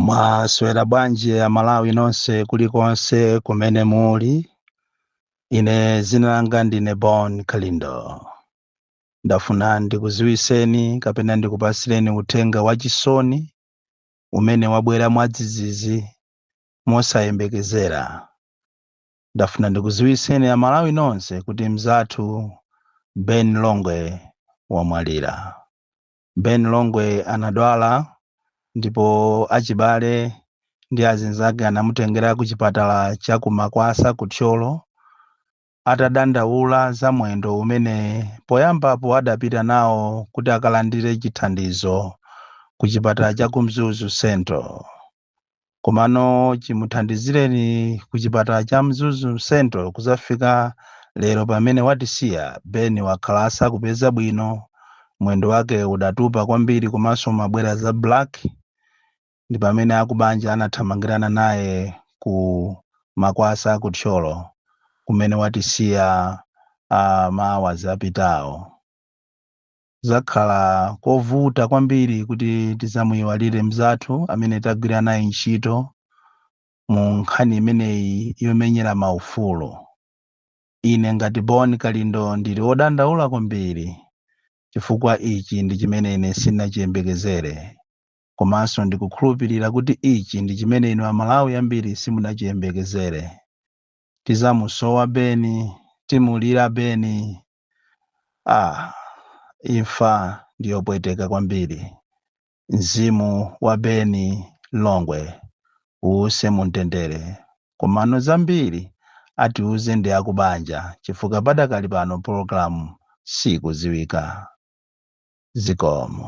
mwaswera bwanji amalawi nonse kulikonse kumene muli ine zina langa ndine bon kalindo ndafuna ndikuziwiseni kapena ndikupasireni uthenga wachisoni umene wabwera mwadzidzidzi mosayembekezera ndafuna ndikuziwiseni amalawi nonse kuti mzathu ben longwe wamwalira ben longwe anadwala ndipo achibale ndi azinzake anamutengera ku chipatala cha ku makwasa ku thyolo atadandaula za mwendo umene poyambapo adapita nawo kuti akalandire chithandizo ku chipatala cha ku mzuzu central komano chimuthandizireni ku chipatala cha mzuzu central kuzafika lero pamene watisiya ben wakhala asakupeza bwino mwendo wake udatupa kwambiri komanso umabwera za black ndi pamene akubanja anathamangirana naye ku makwasa ku thyolo kumene watisiya uh, maawazi apitawo zakhala kovuta kwambiri kuti tizamuyiwalire mzathu amene tagwira naye ntchito mu nkhani imeneyi yomenyera maufulu. Ine ngati Bon Kalindo ndili wodandaula kwambiri chifukwa ichi ndi chimene ine sinachiyembekezere komanso ndikukhulupirira kuti ichi ndi chimene inu Amalawi ambiri simunachiyembekezere. Tizamusowa Beni, timulira Beni. Ah, imfa ndiyopweteka kwambiri. Mzimu wa Beni Longwe uuse mumtendere. Komano zambiri atiuze ndi akubanja chifukwa padakali pano programu siikuziwika. Zikomo.